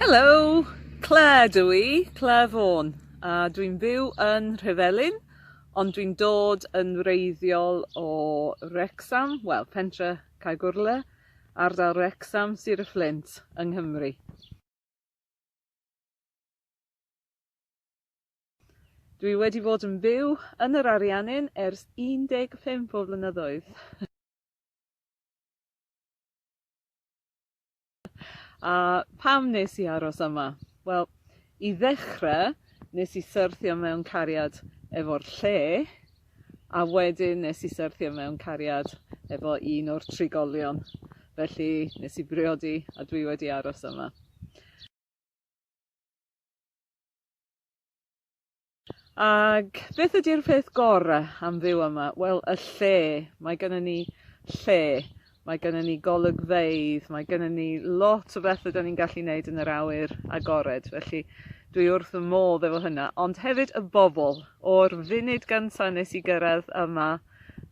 Hello, Claire dw i, Claire Vaughan, a dwi'n byw yn Rhyfelin, ond dwi'n dod yn wreiddiol o Wrexham, wel, pentre Caegwrle, ardal Wrexham, Sir y Fflint, yng Nghymru. Dwi wedi bod yn byw yn yr Ariannin ers 15 o flynyddoedd. A pam nes i aros yma? Wel, i ddechrau, nes i syrthio mewn cariad efo'r lle, a wedyn nes i syrthio mewn cariad efo un o'r trigolion. Felly, nes i briodi a dwi wedi aros yma. Ac beth ydy'r peth gore am fyw yma? Wel, y lle. Mae gennym ni lle, mae gennym ni golygfeydd, mae gennym ni lot o bethau 'dan ni'n gallu neud yn yr awyr agored, felly dwi wrth fy modd efo hynna. Ond hefyd y bobl. O'r funud gynta' nes i gyrraedd yma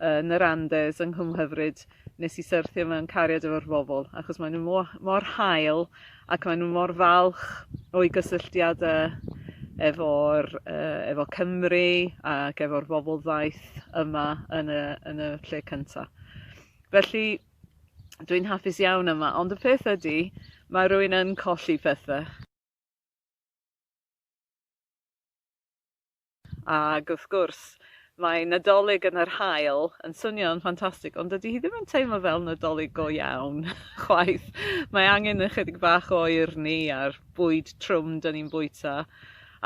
yn yr Andes yng Nghymhyfryd nes i syrthio mewn cariad efo'r bobl achos maen nhw mo- mor hael ac maen nhw mor falch o'i gysylltiada efo'r yy efo Cymru ac efo'r bobl ddaeth yma yn y yn y lle cynta. Felly dwi'n hapus iawn yma ond y peth ydy mae rwy'n yn colli pethau. Ac wrth gwrs, mae Nadolig yn yr haul yn swnio'n ffantastig, ond dydy hi ddim yn teimlo fel Nadolig go iawn chwaith. Mae angen ychydig bach o urni a'r bwyd trwm dyn ni'n bwyta,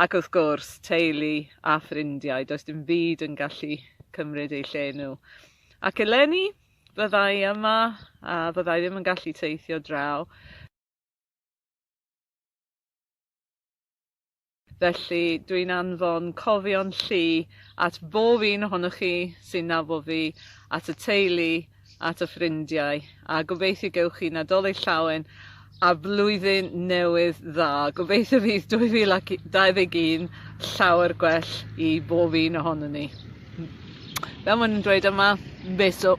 ac wrth gwrs, teulu a ffrindiau, does dim byd yn gallu cymryd eu lle nhw. Ac eleni, fyddai yma a fyddai ddim yn gallu teithio draw. Felly, dw i'n anfon cofion llu at bob un ohonoch chi sy'n nabod fi, at y teulu, at y ffrindiau, a gobeithio gewch chi Nadolig Llawen a Blwyddyn Newydd Dda. Gobeithio fydd 2021 llawer gwell i bob un ohono ni. Fel maen nhw'n dweud yma, beso.